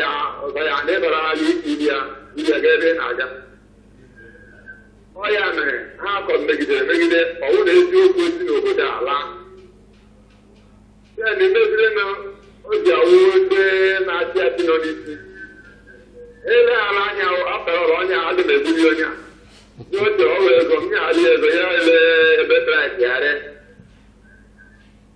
ya ọzọ ya na ịbara ha gị ibi ya ibi ya gaa ebe ị na-aga ọ ya mere ha akọ megidere megide ọ wụ na eziokwu e si n'obodo a laa ya na emeziri na o ji awụ ndị na-achị achị nọ n'isi eleghara anya akpara ọrụ ọnya adị m egburi onye a ndị o ji ọrụ ego m ya adị ego ya ele ebe traịtị ya ree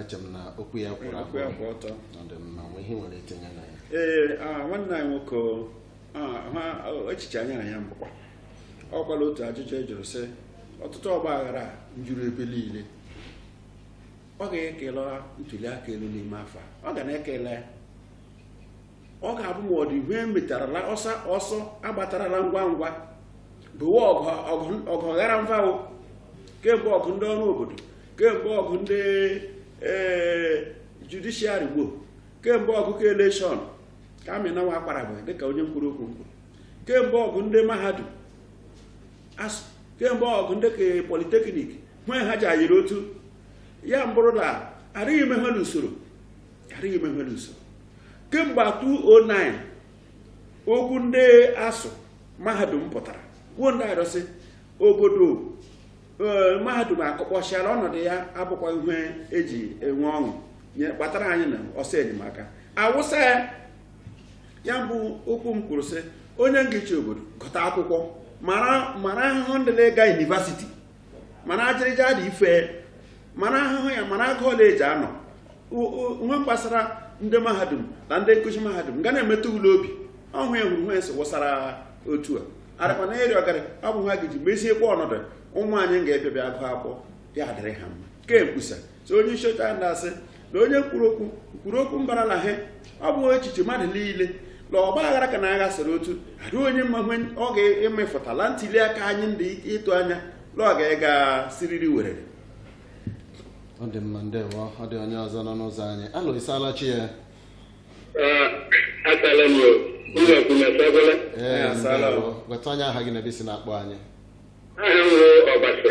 eche m na okwu ya kwụrụ Okwu ya kwụ ọtọ. ọ dị mma nwe ihe nwere itinye na ya ee ah, nwanne anyị nwoke o, ah, ha o, echiche anyị na ya mbụkwa ọ wụkwala otu ajụjụ a jụrụ sị ọtụtụ ọgba aghara a njuru ebe niile ọ ga-ekele ntuli aka elu n'ime afọ a. ọ ga na-ekele ya. ọ ga-abụ ma ọ dị ihe e metarala ọsọ ọsọ a gbatarala ngwa ngwa bụwa ọgụ ghara mvawo kemgbe ọgụ ndị ọrụ obodo kemgbe ọgụ ndị judiciary gboo kemgbe ọgụ ke election ka amịnawa akwara bụ dịka onye nkwuru okwu nkwuru kemgbe ọgụ ndị mahadum kemgbe ọgụ ndị ke polytechnic nwee ha ji ayịrị otu ya mbụrụ na adịghị eme ihe n'usoro adịghị eme ihe n'usoro kemgbe 2009 okwu ndị ASUU mahadum pụtara kwuo ndị arịọsị obodo ee, mahadum akụkpọsịala ọnọdụ ya abụkwa ihe e ji enwe ọṅụ ihe kpatara anyị na ọsọ enyemaka awụsa ya ya bụ okwu m kwuru sị onye nga-ịchị obodo gụta akwụkwọ mara mara ahụhụ ndị na-ịga university mana ajịrịja dị ife mara ahụhụ ya mara agụụ ọla eji anọ ihe gbasara ndị mahadum na ndị nkụzi mahadum ga na-emetụ ya n'obi ọhụ ya hụrụ nwensị wụsara otu a arakwa na eri ọgarị ọ bụ ha ga-eji meziekwa ọnọdụ ụmụ anyị ga-abịa abịa agụ akwụkwọ ya adịrị ha mma kemgbusa so onye isi oche anyị na-asị na onye kwuru okwu kwuru okwu mbara na he ọ bụ echiche mmadụ niile na ọgba aghara ka na agha sịrị otu adị onye mma hwe ọ ga-emetụtala ntuli aka anyị ndị ịtụ anya na ọ ga-ega siriri werere ọ dị mma ndewo ọ dị onye ọzọ nọ n'ụzọ anyị alo ị saala chi ya asaala m o ụlọ kwunyesagwala ee Ya, saala. ndewo. gwatụ anyị aha gị na ebe i si na-akpọ anyị aha m bụ ọbasi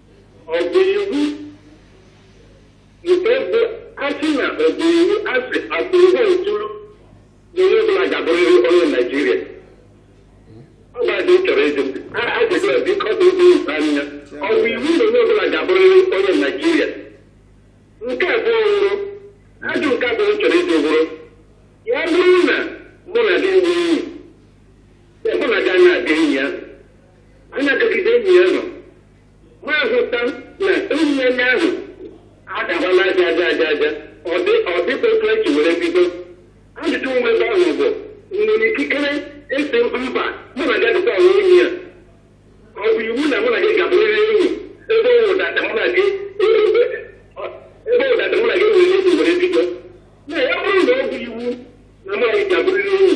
ọ bụ iwu nke bụ asị na ọ bụ iwu asị asị ihe ntụrụ na onye ọbụla ga-abụrịrị onye naijiria ọ bụ adị chọrọ ịjụ ajụjụ a biko bụ ụzọ ụzọ anya ọ bụ iwu na onye ọbụla ga-abụrịrị onye naijiria nke abụọ wụrụ ajụ nke abụọ m chọrọ ịjụ bụrụ ya bụrụ na mụ na gị nwee enyi mụ na gị anaghị aga enyi ya a na-adọgide enyi ya nọ m ahụta na enyi ya ndị ahụ adabala aja aja aja aja ọ dị ọ dịkwa otu e ji were bido ajụjụ nwa ebe ahụ bụ nwere ikikere ịsị mba mụ na gị adịkwa ahụ enyi ya ọ bụ iwu na mụ na gị ga-abụrịrị enyi ebe ọ wụdata mụ na gị ebe ọ wụdata mụ na gị nwere enyi were bido na ya bụrụ na ọ bụ iwu na mụ na gị ga-abụrịrị enyi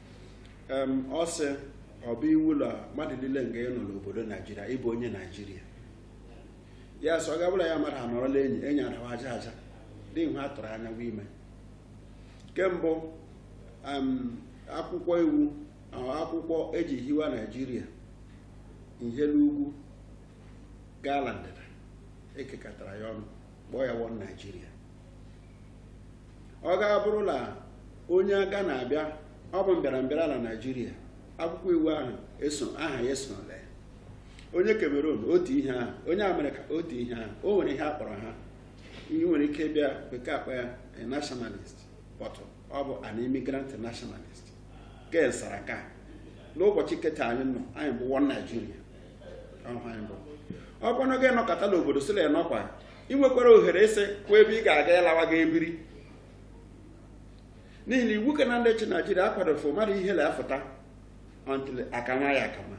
Em, ọ sị ọ bụ iwu na mmadụ niile nga ịnọ n'obodo naijiria ịbụ onye naijiria ya sọ gabụla ya mmadụ anọrọla enyi enyi adawa aja aja dị ihe a tụrụ anya gwa ime ke mbụ em, akwụkwọ iwu ahụ akwụkwọ eji hiwa naijiria ihe n'ugwu gaa la ndịda ekekọtara ya ọnụ kpọọ ya one naijiria ọ ga-abụrụ na onye aga na-abịa ọ bụ mbịarambịara na naijiria akwụkwọ iwu ahụ aha ya eso na ya onye Cameroon otu ihe ahụ onye Amerịka otu ihe ahụ o nwere ihe a kpọrọ ha ihe nwere ike bịa bekee akpọọ ya a nationalist but ọ bụ an immigrant nationalist ken saraka n'ụbọchị ke taa anyị nọ anyị bụ one Nigeria ọ bụrụ na gị nọkata n'obodo sị la ya nọkwa ị nwekwara ohere ịsị kwa ebe ị ga-aga ịlawa ga ebiri n'ihi na iwu ka na ndị chị naijiria akwadofe mmadụ ihe na-afụta until a kama ya akama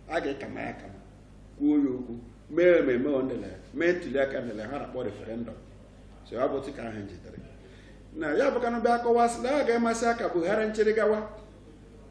a ga-akama ya akama kwuo ya okwu mee ememe ondele mee ntuli aka ndele ha na-akpọ referendum so ọ bụ otu ka ahụ jidere na ya bụ kanụ bịa kọwasị na ọ ga-amasị ya ka buhari nchịrị gawa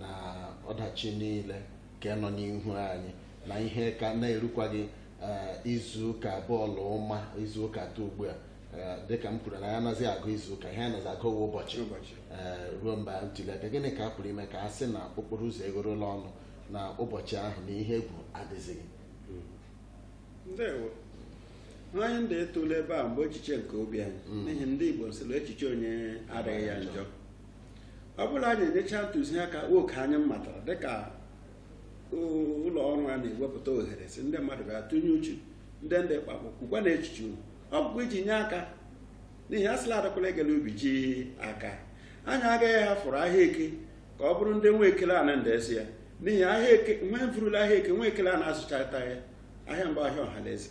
na ọdachi niile ka nọ n'ihu anyị na ihe ka na-erukwaghị eh, izu ụka abụọ la ụma izu ụka atọ ugbu a Eh, dịka m kwuru na anazịghị agụ izu ụka ihe a nazị agụ wụ ụbọchị eh, ruo mgbe ntuli aka gịnị ka a pụrụ ime ka a sị na okporo ụzọ egorola ọnụ na ụbọchị ahụ na ihe egwu adịzighị ndewo anyị ndị etule ebe a mbụ echiche nke obi anyị n'ihi ndị igbo sị la echiche onye adịghị ya njọ ọ bụ la anyị enyecha ntụziaka oke anyị matara dịka ụlọ ọrụ a na-ewepụta ohere sị ndị mmadụ bịa tụnye uche ndị ndị kpakpọ kwukwa na echiche unu ọ bụkwa iji nye aka n'ihi a sị la adakwala egele ubi ji aka anyị agaghị ahafụrụ ahịa eke ka ọ bụrụ ndị nwe ekele ana ndị esi ya n'ihi ahịa eke nwe mfurula ahịa eke nwe ekele a na-azụchata ya ahịa mbụ ahịa ọha na eze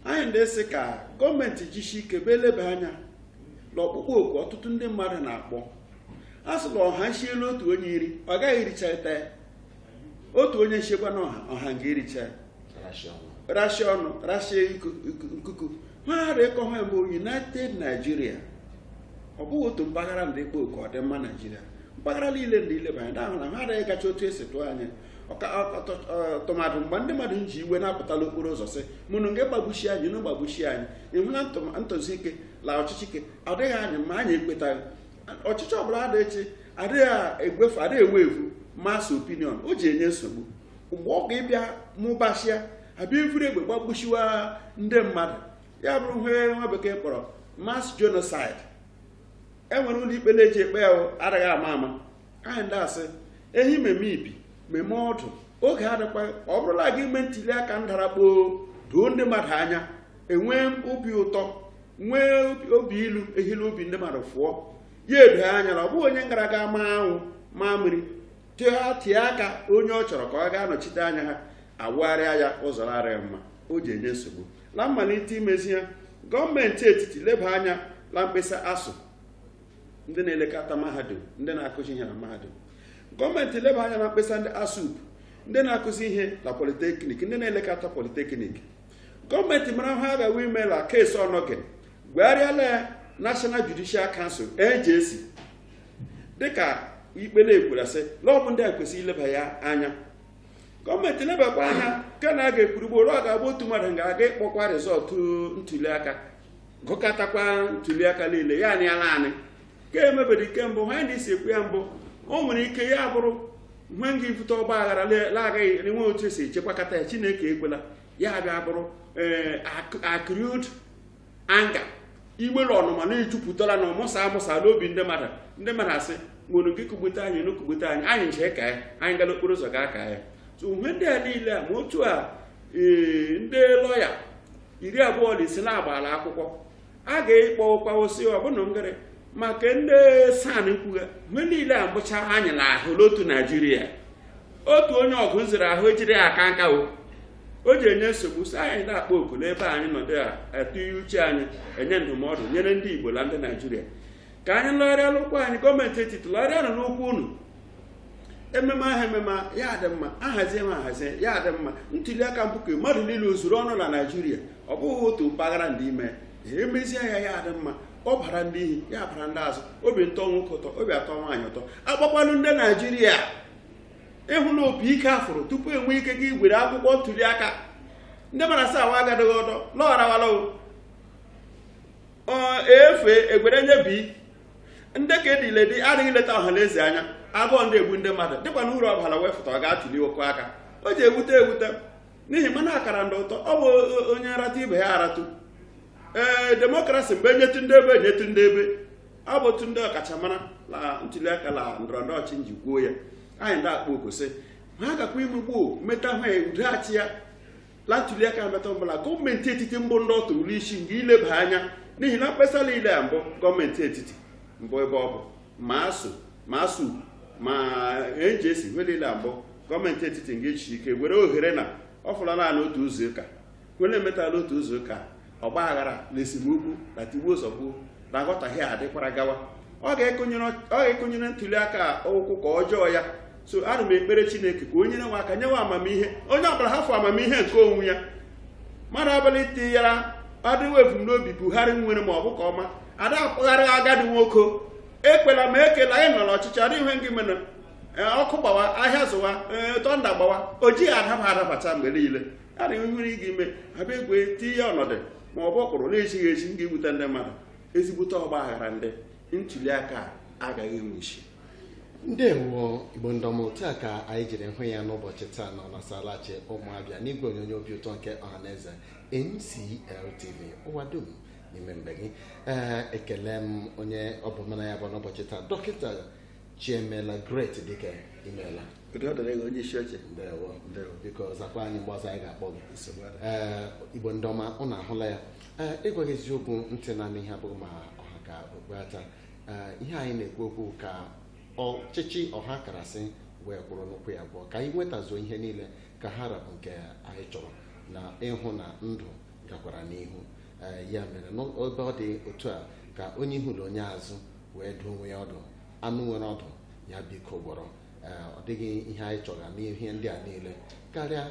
anyị ndị sị ka gọọmenti jishi ike bịa eleba anya na ọkpụkpọ oku ọtụtụ ndị mmadụ na-akpọ a sị na ọha nshiela otu onye iri ọ gaghị erichata ya otu onye nshiekwa na ọha ọha nga ericha ya rashia ọnụ rashia iku- iku- nkuku ha ghara ịkọ ha mbụ united nigeria ọ bụghị otu mpaghara ndị kpọ oku ọdịmma naijiria mpaghara niile ndị ileba anya na-ahụ na ha ghara ịgacha otu esi tụọ anya tụmadụ mgbe ndị mmadụ ji iwe na-apụta la okporo ụzọ sị ma unu nga gbagbuchie anyị nụ gbagbuchie anyị ihi la ntụzi ike la ọchịchị ike adịghị anyị mma anyị ekwetaghị ọchịchị ọbụla adịghị echi adịghị egwefu adịghị egwefu mass opinion o ji enye nsogbu mgbe ọ ga-ịbịa mụbachia abịa evuru egbe gbagbuchiwa ndị mmadụ ya bụrụ ihe nwa bekee kpọrọ mass genocide e nwere ụlọ ikpe na-eji ekpe ya adịghị ama ama anyị ndị asị ehi meme ibi meme ọdụ oge adịkwa ọ bụrụ la a ga-ime ntuli aka ndara kpoo doo ndị mmadụ anya enwee obi ụtọ nwee obi ilu ihi la obi ndị mmadụ fụọ ya edo anya na ọ bụghị onye gara aga ma anwụ ma mmiri tie aka onye ọ chọrọ ka ọ gaa anọchite anya ha awụgharịa ya ụzọ la-adịghị mma o ji enye nsogbu na mmalite imezi ya gọọmenti etiti leba anya na mkpesa ASUU ndị na-elekọta mahadum ndị na-akụzi ihe na mahadum gọọmenti leba anya na mkpesa ndị ASUP ndị na-akụzi ihe na politeknik ndị na-elekọta politeknik gọọmenti mara ha agaghị ime la case Onnoghen gwegharịala ya National Judicial Council NJC dịka ikpe na-ekwuru sị na ọ bụ ndị a kwesịrị ileba ya anya gọọmenti lebakwa anya nke na a ga-ekwurugbo ọ ga-abụ otu mmadụ ga-aga ịkpọkwa result ntuli aka gụkọtakwa ntuliaka niile ya na ya naanị ka emebedi kemgbe ha ndị si ekwu ya mbụ o nwere ike ya bụrụ ihe nga ibute ọgba aghara la-agaghị enwe otu e si echekwakọta ya chineke ekwela ya bịa bụrụ ee accrued anger iwe la ọnụma na-ejupụtara na-amụsa amụsa n'obi ndị mmadụ ndị mmadụ asị nwere gị kụgbute anyị nụ kụgbute anyị anyị nche ka ya anyị gara okporo ụzọ gaa ka ya so ihe ndị a niile a ma otu a ee ndị lọya iri abụọ na ise na-agbala akwụkwọ a ga-ekpọ ụkwa osi ọbụna ngịrị maka ndị SAN kwughe mgbe niile a mbụcha anyị na ahụ n'otu naijiria otu onye ọgụ nzere ahụ ejiri aka nka o o ji enye nsogbu so anyị na-akpọ oku n'ebe anyị nọdụ ya atụgharị uche anyị enye ndụmọdụ nyere ndị igbo na ndị naijiria ka anyị lọgharịa n'ụkwụ anyị gọọmenti etiti lọgharịanụ n'ụkwụ unu ememe ahụ ememe ya dị mma ahazie ma ahazie ya dị mma ntuli aka bụ nke mmadụ niile ozuru ọnụ na naijiria ọ bụghị otu mpaghara ndị ime emezie ya ya dị mma ọ bara ndị ihu ya bara ndị azụ obi atọ nwoke ụtọ obi atọ nwaanyị ụtọ agbakwanụ ndị naijiria ịhụ na opi ike afụrụ tupu e nwee ike gị were akwụkwọ ntuli aka ndị mara sa awa agadịghị ọdọ lọgharawala efe egwere nye bi ndị ka ediledi adịghị leta ọha na eze anya agụụ ndị egbu ndị mmadụ dịkwa na uru ọbara wefụta ọ ga-atụli okwu aka o ji ewute ewute n'ihi mmanụ akara ndị ụtọ ọ bụ onye nratụ ibe ya aratụ ee demokrasi mbụ e nyetụ ndị ebe e nyetụ ndị ebe ọ bụ otu ndị ọkachamara na ntuli aka na ndọrọ ndọrọ ọchịchị nji kwuo ya anyị ndị akpọ oku sị ha gakwa ime gboo meta ha udoghachi ya na ntuliaka mbata ọbụla gọọmenti etiti mbụ ndị ọ tụrụ isi nga ileba anya n'ihi na mkpesa niile a mbụ gọọmenti etiti mbụ ebe ọ bụ ma ASUU ma ASUU ma NJC ihe niile a mbụ gọọmenti etiti nga echichi ike were ohere na ọ fọla naanị otu izu ụka were emetala otu izu ụka ọgba aghara na esemokwu na tigbuo zọgbuo na aghọtahie adịkwara gawa ọ ga-ekonyere ntuli aka ụkwụ ka ọjọọ ya so ana m ekpere chineke ka o nyere aka nyewe amamihe onye ọbụla hafụ amamihe nke onwe ya mmadụ abalị tinyere adịghị ebumnobi buhari nwere ma ọ bụ ka ọma ada akpagharị agadi nwoke ekpela ma ekela anyị nọ n'ọchịchị adịghị ihe ngị mere ọkụ gbawa ahịa zụwa tọnda gbawa o jighị adaba adabata mgbe niile a na nwere ị ga-eme abịa egwe tinye ya ọnọdụ ma ọ bụ ọkpụrụ na-ezighị ezi nga ibute ndị mmadụ ezigbote ọgba aghara ndị ntuli aka agaghị enwe isi ndewo igbo ndị ọma otu a ka anyị jiri hụ ya n'ụbọchị taa na ọnasalachi ụmụ abịa n'igwe onyonyo obi ụtọ nke ọhaneze MCLTV ụwa dum n'ime be gị ee ekele m onye ọ bụ mụ na ya bụ n'ụbọchị taa dọkịta chiemela great dike imeela biko zakwa anyị mgbe ọzọ anyị ga-akpọ gị ee igbo ndị ọma ụnụ ahụla ya ee ịgwa gị eziokwu ntị na-anụ ihe abụghị ma ọ ha ka okpu ata ee ihe anyị na-ekwu okwu ka ọchịchị ọha karasị wee kwụrụ n'ụkwụ ya abụọ ka anyị nwetazuo ihe niile ka ha ra bụ nke anyị chọrọ na ịhụ na ndụ gakwara n'ihu ee ya mere n'ebe ọ dị otu a ka onye ihu na onye azụ wee dụọ onwe ya ọdụ anụ nwere ọdụ ya biko gwọrọ ee, ọ dịghị ihe anyị chọrọ n'ihe ndị a niile karịa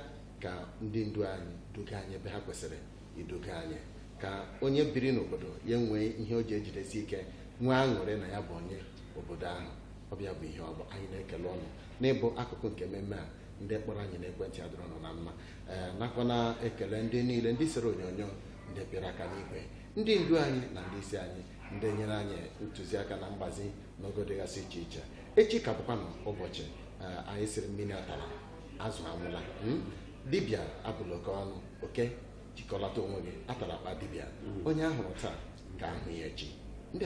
ka ndị ndu anyị duga anyị ebe ha kwesịrị iduga anyị ka onye biri n'obodo ya nwee ihe o ji ejidesi ike nwee aṅụrị na ya bụ onye obodo ahụ ọ bịa bụ ihe ọ bụ anyị na-ekele ụnụ n'ịbụ akụkụ nke mmemme a ndị kpọrọ anyị n'ekwentị a dịrị ụnụ na mma ee nakwa na-ekele ndị niile ndị sere onyonyo ndị pịara aka n'igwe ndị ndu anyị na ndị isi anyị ndị nyere anyị ntụziaka na mgbazi n'ogo dịgasị iche iche echi ka bụkwanụ ụbọchị eh, anyị sịrị mmiri atala azụ anwụla hmm? dibịa abụla oke ọnụ oke jikọlata onwe gị atala akpa dibịa hmm. onye a hụrụ taa ka a hụ ya echi ndị